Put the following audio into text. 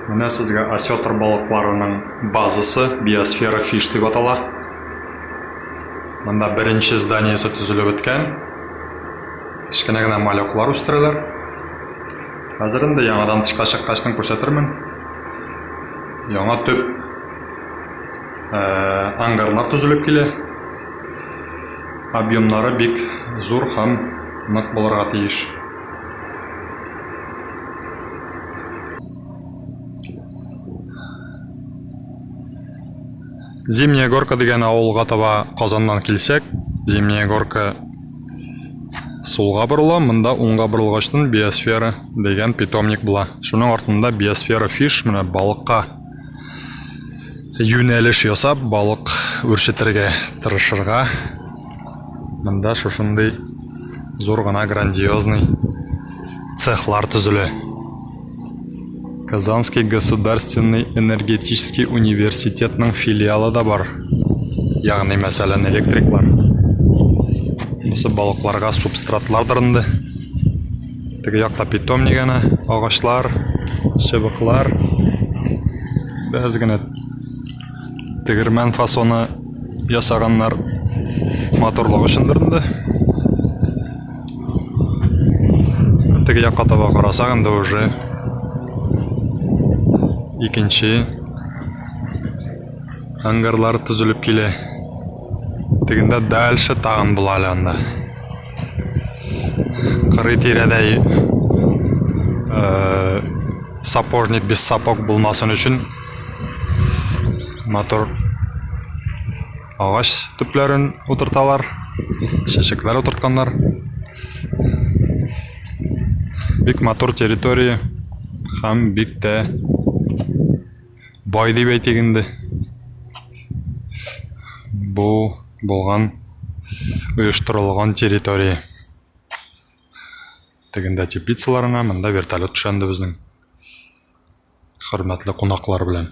Менә сезгә осетр балыкларының базасы, биосфера фиш дип атала. Монда беренче зданиесе төзелеп беткән. Кечкенә генә малеклар үстерәләр. Хәзер инде яңадан тышка чыккачтын күрсәтермен. Яңа төп э, ангарлар төзелеп килә. Объемнары бик зур һәм нык булырга тиеш. Зимняя горка дигән авылга таба Казаннан килсәк, Зимняя горка сулга борыла, монда уңга борылгачтын биосфера дигән питомник була. Шуның артында биосфера фиш, менә балыкка юнәлеш ясап, балык үрчетергә тырышырга Монда шушындый зур гына грандиозный цехлар төзелә. Казанский государственный энергетический университетның филиалы да бар. Ягъни, мәсәлән, электриклар. Бусы балыкларга субстратлар дырынды. Теге якта питомник генә, агачлар, чыбыклар. Без генә Тегермән фасоны ясаганнар матурлык өчендер инде. Теге якка таба карасак инде уже икенче ангарлар төзелеп килә. Тегендә дальше тагын була әле анда. Кырый тирәдә э, сапожник без сапог булмасын өчен Матур агач төпләрен утырталар, чәчәкләр утыртканнар. Бик матур территория һәм бик тә бай дип әйтик инде. Бу булган оештырылган территория. Тегендә теплицаларына, монда вертолет төшә инде безнең. Хөрмәтле кунаклар белән.